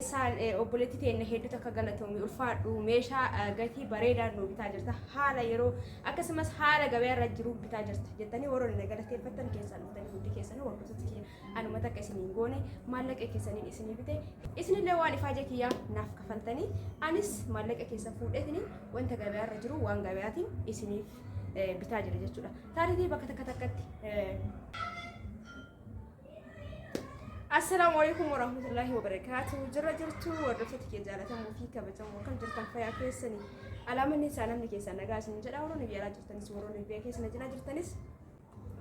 Isaan obboleetti teenna hedduu takka galatoomi ulfaadhu meeshaa gatii bareedaan nu bitaa jirta haala yeroo akkasumas haala gabaa irra jiru bitaa jirta jettanii warroonni na galateeffattan keessaan dhuftanii hundi keessanii hordoftoota kiyya anuma takka isiniin goone maallaqa keessaniin isinii bite isinillee waan ifaaja kiyyaa naaf kafaltanii anis maallaqa keessa fuudheetini wanta gabaa irra jiru waan gabaatiin isiniif bitaa jira jechuudha taaritii bakka takka takkatti Assalaamu alaikum warahmatullahi wabarakaatu. Jirra jirtu hordoftoota keenya jaallatamoo fi kabajamoo kan jirtan fayyaa keessanii. Alaamanni isaa namni keessan nagaa isin jedha warroonni biyya alaa jirtanis warroonni biyya keessa na jala jirtanis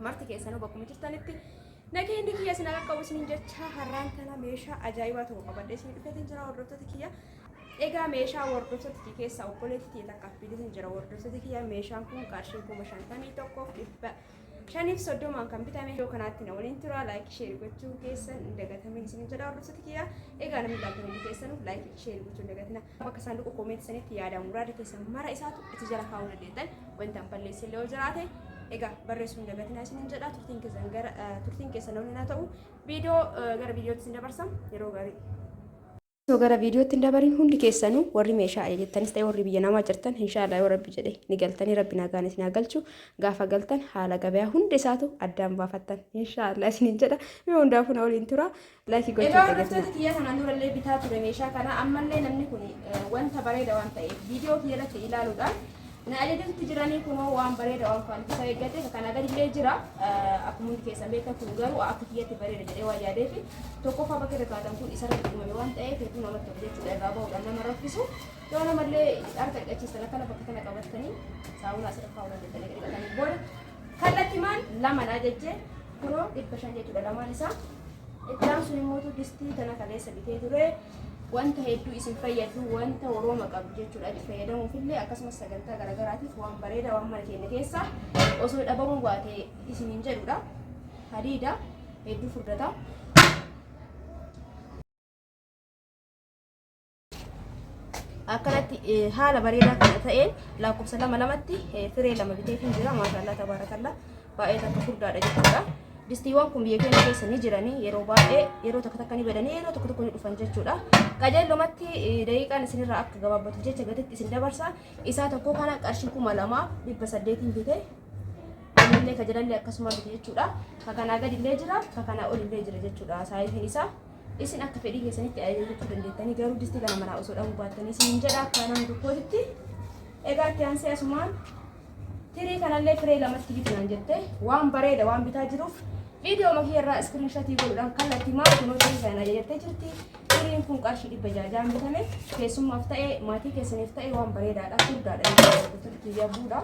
marti keessanuu bakkuma jirtanitti nagee inni kiyya isin qaqqabu isiniin jecha har'aan tana meeshaa ajaa'ibaa tokko qabadhee isin dhufeetiin jira hordoftoota kiyya. Egaa meeshaa hordoftoota kiyya keessaa obboleetti ta'e takkaaf bilisni jira hordoftoota kiyya meeshaan kun qarshii kuma shantamii tokkoof dhibba shaniif soddomaan kan bitame yoo kanaatti na waliin tura laayikii sheerii gochuu keessan hin dagatamin isin jedha hordoftoota kiyya egaa namni laaltanii keessan laayikii sheerii gochuu hin dagatina bakka saanduqa koomeetii sanitti yaada muraada keessan mara isaatu itti jala kaa'uu dandeettan wanta balleessi illee yoo jiraate egaa barreessuu hin dagatina isin jedha turtiin keessan gara turtiin keessan waliin haa ta'u viidiyoo gara viidiyootti isin dabarsa yeroo gaarii Osoo gara viidiyootti hin dabarin hundi keessanuu warri meeshaa ajajattanis ta'e warri biyya namaa jirtan inshaallah yoo rabbi jedhe ni galtanii rabbi nagaan isin haa galchu gaafa galtan haala gabayaa hundi isaatu addaan baafattan inshaallah isinin jedha mee hundaafuu na waliin tura laayikii gochuu Egaa dagatina. hordoftoota kiyya kanaan durallee bitaa ture meeshaa kana ammallee namni kun eh, wanta bareeda waan ta'eef viidiyoo kiyya irratti ilaaluudhaan Naayila dirti jiranii kunoo waan bareeda waan faantisaa eeggate kan kana gadillee jira akkuma hundi keessan beektan kun garuu akka kiyyatti bareeda jedhee waan yaadeef tokkoffaa bakka irra kaatan kun isarratti uumame waan ta'eef hedduu namatti tola jechuudha irraa ba'uudhaan nama rakkisu yoo namallee harka dhiqachiistan akkana bakka kana qabattanii saawunaa asirra kaa'uu dandeettanii dhiqatanii booda kallattii maal lamadha jechee kunoo dhibba shan jechuudha lamaan isaa iddaan sun immoo distii tana kaleessa bitee ture wanta hedduu isin fayyaddu wanta worooma qabdu jechuudha itti fayyadamuuf illee akkasumas sagantaa garaagaraatiif waan bareedaa waan mana keenya keessaa osoo dhabamuu baate isiniin jedhudha hadiida hedduu furdata akkanatti eh, haala bareedaa kana ta'een lakkoofsa lama lamatti eh, firee lama biteetiin jira maashaallah tabaarakallaa baay'ee takka furdaadha jechuudha. Distiiwwan kun biyya keenya keessa ni jiranii yeroo baay'ee yeroo takka takka ni badanii yeroo tokko tokko ni dhufan jechuudha. Qajeelumatti eh, daqiiqaan isinirraa akka gabaabbatu jecha gatitti isin dabarsa. Isaa tokko kana qarshii kuma lamaa dhibba saddeetiin bite. Illee ka jedhallee akkasuma bite jechuudha. Ka kanaa gadi illee jira, ka kanaa ol illee jira jechuudha saayiziin isaa. Isin akka fedhii keessanitti ajajachuu dandeettanii garuu distii kana manaa osoo dhabuu baattanii isin hin jedha akka nama tokkootitti. Egaa itti aansee asumaan Tirii kanallee firee lamatti biti naan jette waan bareeda waan bitaa jiruuf viidiyoo makii irraa iskiriinshatii godhuudhaan kallattii maal kunoo tirii kana na jajattee jirti. Tiriin kun qarshii dhibba jaajaan bitame keessummaaf ta'e maatii keessaniif ta'e waan bareedaadha furdaadha turtii yabuudha.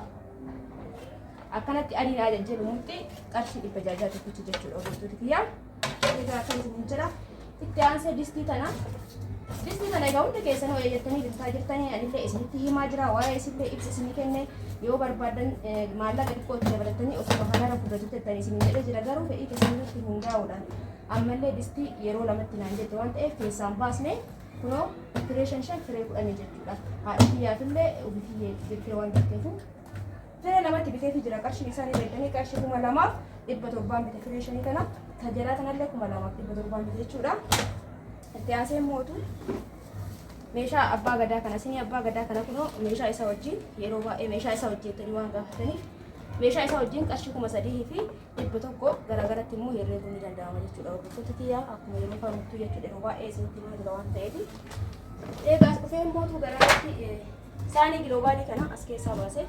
Akkanatti adii na ajajjee lumutti qarshii dhibba jaajaa tokkichi jechuudha hojjettoota kiyyaa. egaa kan isin jira itti aansee distii tana distii tana egaa hundi keessan wayya jettanii bittaa jirtanii anillee isinitti himaa jira waa'ee isinillee ibsa isinii kenne yoo barbaadan maallaqa xiqqoo itti dabalatanii osuma kanarra guddatu jettanii isin jedhee jira garuu fedhii keessan irratti hundaa'uudhaan ammallee distii yeroo lamatti naan jette waan ta'eef keessaan baasne kunoo firee shan shan firee kudhanii jechuudha haadha biyyaafillee ofiifiyyee jettee waan jetteefu Fira lamatti biteefi jira qarshiin isaan irra eeganii qarshii kuma lamaaf dhibba torbaan bite firii shanii kana kan jalaa kanallee kuma lamaaf dhibba torbaan bite jechuudha. Itti aansee mootu meeshaa abbaa gadaa kana sinii abbaa gadaa kana kunoo meeshaa isaa wajjin yeroo baay'ee meeshaa isaa wajjin jettanii waan gaafataniif meeshaa isaa wajjin qarshii kuma sadii fi dhibba tokko garaagaratti immoo herreeguun ni danda'ama jechuudha. Hordoftoota kiyyaa akkuma yeroo kamittuu jechuudha yeroo baay'ee isinitti hima jira waan ta'eef. Eegaas dhufee mootu garaatti Saanii giloobaalii kana as keessaa baasee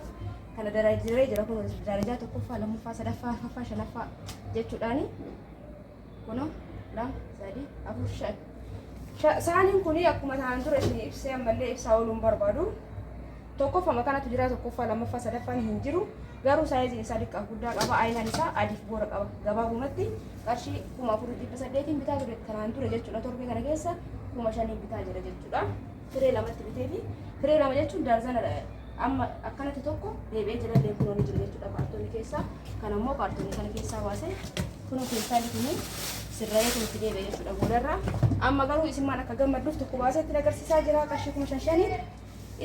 kana darajiree jira kun darajaa tokkoffaa lammaffaa sadaffaa arfaffaa shanaffaa jechuudhaani kunoo lama sadii afur shan Sha- saaniin kun akkuma ta'an ture isin ibsee ammallee ibsaa ooluun barbaadu tokkoffama kanatu jira tokkoffaa lammaffaa sadaffaan hin jiru garuu saayiziin isaa diqqaa guddaa qaba aayinaan isaa adiif boora qaba gabaabumatti qarshii kuma afurii dhibba saddeetiin bitaa ture kanaan ture jechuudha torbee kana keessa kuma shaniin bitaa jira jechuudha. Firee lamatti bitee fi firee lama jechuun daarzana amma akkanatti tokko deebi'ee jira illee kunoo ni jira jechuudha kaartoonni keessaa kan ammoo kaartoonni kana keessaa baasee kunoo keessaa bitanii sirra'ee kun itti deebi'ee jechuudha boodarraa amma garuu isin maal akka gammadduuf tokko baasee itti agarsiisaa jira qarshii kuma shan shanii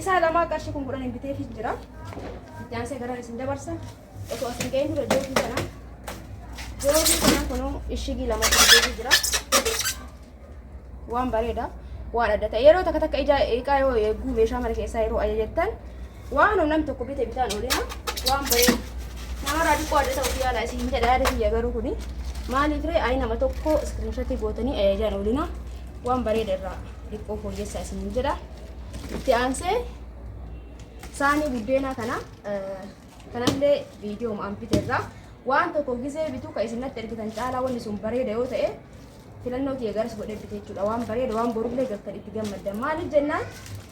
isaa lamaa qarshii kun kudhan hin biteefis jira itti aansee garaan isin dabarsa osoo as hin ga'in dura joogii kana joogii kana kunuu ishigii lama joogii jira waan bareeda waan adda ta'e yeroo takka takka ija eegaa yoo eeguu meeshaa mana keessaa yeroo ajajattan waan nam tokko bite bitaan oolina waan bareeda namarraa xiqqoo adda ta'uuf yaala isin hin jedha yaada kiyya garuu kuni maaliif ree ayi nama tokko iskiriinshatii gootanii ajajaan oolina waan bareeda irraa xiqqoo fooyyessaa isin hin jedha itti aansee saanii buddeenaa kana Kanallee viidiyooma an bite irraa waan tokko gizee bitu ka isin natti ergitan caalaa wanni sun bareeda yoo ta'e filannoo kiyya garas godhee bite jechuudha waan bareeda waan borullee galtan itti gammaddan maaliif jennaan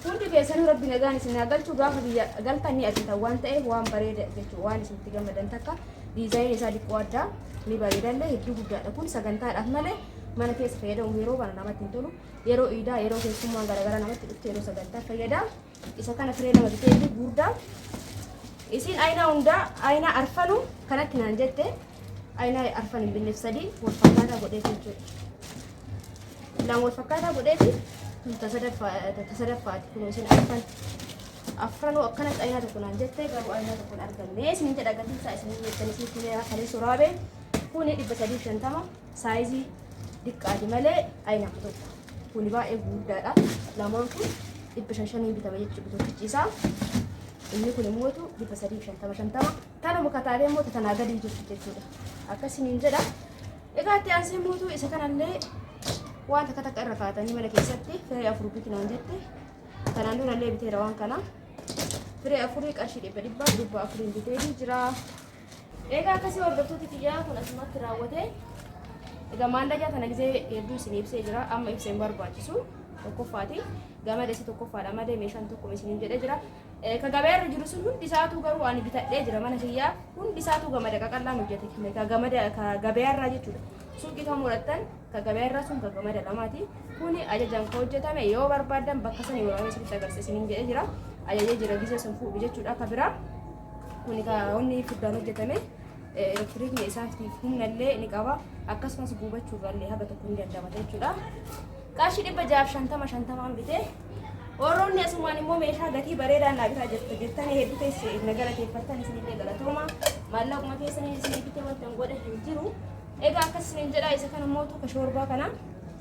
hundi keessanuu rabbi nagaan isin haa galchu gaafa biyya galtan ni argitan waan ta'eef waan bareeda jechuudha waan isin itti gammaddan takka diizaayin isaa diqqoo addaa ni bareedallee hedduu guddaadha kun sagantaadhaaf malee mana keessa fayyadamu yeroo kana namatti hin tolu yeroo iidaa yeroo keessummaan garaagaraa namatti dhufte yeroo sagantaa fayyadamu isa kana firee lama bitee fi guurdaa isiin ayinaa hundaa ayinaa arfanu kanatti naan jette ayinaa arfan hin binneef sadii wal fakkaataa godhee jechuudha lama wal fakkaataa godhee fi tasadaffaati kun isiin arfan afranuu akkanatti ayinaa tokko naan jette garuu ayinaa tokko hin argamne isin jedha gatii isaa isin jettan isin kulee kalee suraabe kuni dhibba sadii shantama saayizii diqqaati malee ayinaa tokko Kuni baay'ee guguddaadha. Lamaan kun dhibba shan shaniin bitama jechuudha tokkichi isaa. Inni kun immoo dhibba sadii fi shantama shantama. Tanuma kataalee immoo tanaa gadi jirtu jechuudha. Akkasiniin jedha. Egaa itti aansee mootuu isa kanallee waan takka takka irra kaatanii mana keessatti firee afur bitinaan jette. Kanaan durallee biteera waan kana. Firee afurii qarshii dhibba dhibba dhibba afuriin bitee jira. Egaa akkasii hordoftoota kiyyaa kun asumatti raawwate. Egaa maandajaa kana gisee hedduu isin ibsee jira. Amma ibsa hin barbaachisu. Tokkoffaati. Gama desi tokkoffaadha malee meeshaan tokkuma isiniin jedhee jira. Eh, Ka gabaa irra jiru sun hundi isaatuu garuu ani bitadhee jira mana kiyyaa. Hundi isaatuu gamada qaqallaan hojjete. Ka gamada ka gabaa irraa jechuudha. Suuqii kan murattan ka gabaa irraa sun ka gamada lamaati. Kuni ajajaan ka hojjetame yoo barbaadan bakka sanii waraabee isinitti agarsiisa isiniin jedhee jira. Ajajee jira gisee sun fuudhu jechuudha akka biraa. Kun egaa wanni guddaan hojjetame elektiriikni isaatiif humna illee ni qaba akkasumas guubachuu irraa illee haga tokko ni dandamata jechuudha. Qarshii dhibba jaaf shantama shantamaan bitee warroonni asumaan immoo meeshaa gatii bareedaan naa bitaa jirtu jettanii hedduu teesse na galateeffattan isinillee galatooma maallaquma keessanii isinii bitee wanta hin godhe hin jiru. Egaa akkasuma hin jedhaa isa kana mootu ka shoorbaa kana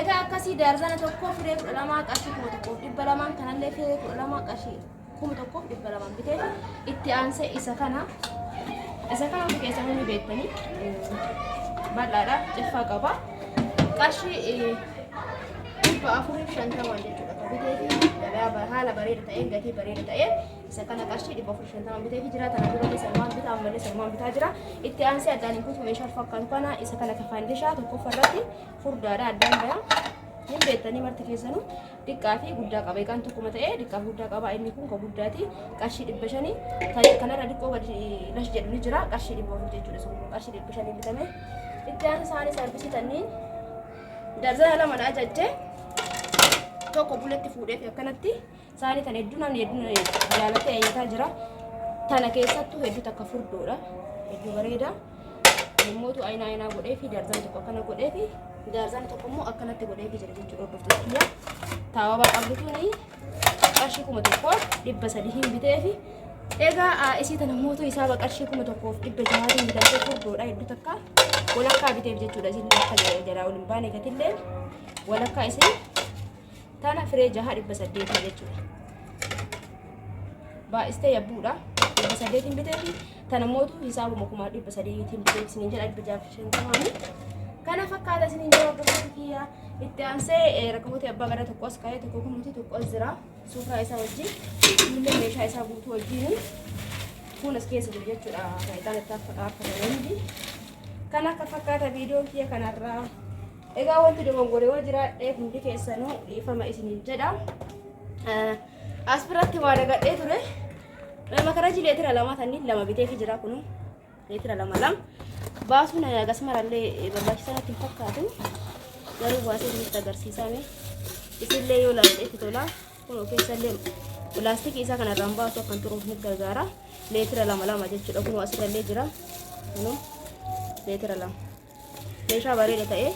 Egaa akkasii daarzana tokko firee kudha lamaa qarshii kuma tokkoof dhibba lamaan kanallee firee kudha lamaa qarshii kuma tokkoof dhibba lamaan bitee itti aansee isa kana isa kana hundi keessan hundi beektanii bal'aadha ciffaa qaba qarshii eh, dhibba afurii fi shantamaan jechuudha kan bitee fi gabaa ba- haala bareeda ta'een gatii bareeda ta'een isa kana qarshii dhibba afur shantamaan bitee jira kana durallee sanumaan bitaa ammallee sanumaan bitaa jira itti aansee addaan hin kutu meeshaa fakkaatu kana isa kana ka faandishaa tokkoffaa irratti furdaadha addaan baya hin beektanii marti keessanuu xiqqaa fi guddaa qaba egaan tokkuma ta'ee xiqqaa fi guddaa qaba inni kun ka guddaati qarshii dhibba shanii kan kanarra xiqqoo gadi lash jedhu ni jira qarshii dhibba afur jechuudha sun qarshii dhibba shanii bitame itti aansee isaanii sarbisii tanniin darzana lamadha ajajjee tokko buletti fuudheef akkanatti Saanii tan hedduu namni hedduu jaalatee ayyataa jira. Tana keessattuu hedduu takka furdoodha. Hedduu bareeda. Yemmootu ayinaa ayinaa godhee fi daarzaan tokko akkana godhee fi daarzaan tokko immoo akkanatti godhee fi jira jechuudha hordoftoota kiyya. Taawabaa qabdu tuni qarshii kuma tokko dhibba sadii hin bitee fi egaa isii tana mootuu isaaba qarshii kuma tokkoof dhibba jahaatiin bitamtee furdoodha hedduu takka walakkaa biteef jechuudha isin akka jaraa waliin baane gatillee walakkaa isin Tana firee jahaa dhibba saddeetii jechuudha. Baay'istee yabbuudha. Dhibba saddeetiin biteefi tana mootu hisaabuma kumaa dhibba saddeetiin biteef isiniin jedha dhibba jaaf shantamaanii. Kana fakkaata isiniin jedha hordoftoota kiyyaa. Itti aansee eh, rakkaboota abbaa gara tokkos ka'ee tokko kunuuti tokkos jira. Suutaa isaa wajjin illee meeshaa isaa guutuu wajjin kun as keessa jiru jechuudha. Faayidaan itti akka akka kana hundi. Kan akka fakkaata viidiyoo kiyya kanarraa. Egaa wanti dogongore yoo jiraadhe hundi keessanuu dhiifama isiniin jedha. As biratti waa dagadhee ture. Makaraji leetira lama tanni lama biteefi jira kunu leetira lama lama. Baasuun agas marallee barbaachisaa natti hin fakkaatu. Garuu baasee isinitti agarsiisaame. Isillee yoo laalte itti tola. Kunoo keessallee pilaastikii isaa kanarraan baasu akkan turuuf ni gargaara. Leetira lama lama jechuudha. Kunoo asirrallee jira. Kunoo leetira lama. meeshaa bareeda ta'e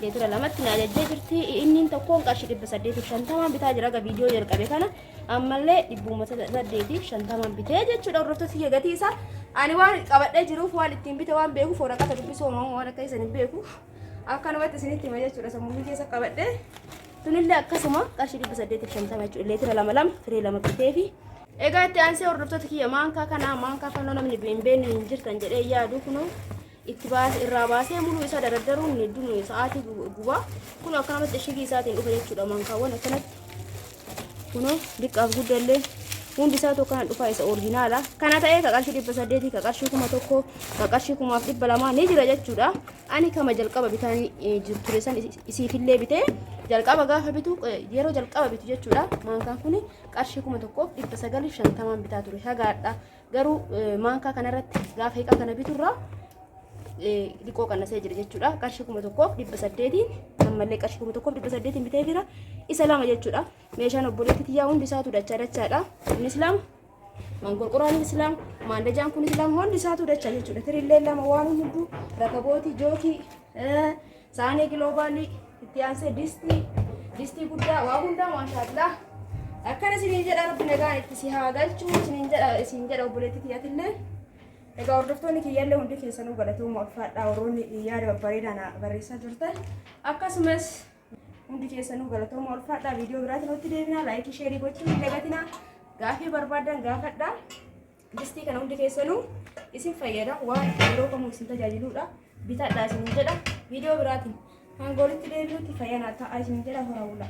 leetira lamatti na ajajjee jirti inni tokkoon qarshii dhibba saddeetiif shantamaan bitaa jira aga viidiyoo jalqabe kana ammallee dhibbuuma saddeetiif shantamaan bitee jechuudha hordoftoota kiyya gatii isaa ani waan qabadhee jiruuf waan ittiin bite waan beekuuf waraqata dubbisuu uumamu waan akka isin hin beeku akkanumatti isinitti hima jechuudha sammuu keessa qabadhee tunillee akkasuma qarshii dhibba saddeetiif shantama jechuudha leetira lama lama firee lama bitee fi Egaa itti aansee hordoftoota kiyya maankaa kanaa maankaa kanoo namni hin beekne hin jirtan jedhee yaadu kunoo itti baase irraa baasee muluu isaa daradaruun dunu sa'aatii gubaa kunoo akkanumatti ishigii isaatiin dhufa jechuudha maankaawwan akkanatti kunoo diqqaaf guddallee hundi isaa tokko kan dhufaa isa orijinaala kana ta'ee ka qarshii dhibba saddeetii ka qarshii kuma tokko ka qarshii kumaaf dhibba lamaa ni jira jechuudha ani kama jalqaba bitaan jiru ture san isiifillee bitee jalqaba gaafa bitu yeroo jalqaba bitu jechuudha maankaan kun qarshii kuma tokkoof dhibba sagalii fi shantamaan bitaa ture haga hadhaa garuu eh, maankaa kanarratti gaafa hiqaa kana biturraa eh, liqoo qannasee jira jechuudha qarshii kuma tokkoof dhibba saddeetiin ammallee qarshii kuma tokkoof dhibba saddeetiin bitee jira isa lama jechuudha meeshaan obboleetti tiyyaa hundi isaatu dachaa dachaadha innis lama mangorqoraan islaam maandajaan kun islaam hundi isaatu dachaa jechuudha tirillee lama waan hunduu rakabooti jookii eh, Saanii giloobaalii itti aansee distii distii guddaa waa hundaa maashaallaa akkana isiniin jedha rabbi nagaan itti si haa galchu isiniin jedha isin jedha obboleetti tiyyatillee egaa hordoftoonni kiyyaallee hundi keessanuu galatooma ulfaadhaa warroonni yaada babbareedaa na barreessaa turtan akkasumas hundi keessanuu galatooma ulfaadhaa viidiyoo biraatiin walitti deebinaa laayikii sheerii gochuun hin dagatinaa gaafii barbaadan gaafadhaa. Distii kana hundi keessanuu isin fayyada waan yeroo kamuu isin tajaajiluudha bitadhaa isin jedha viidiyoo biraatiin hangoolitti deebi'uutti fayyanaa ta'aa isin jedha horaa bulaa.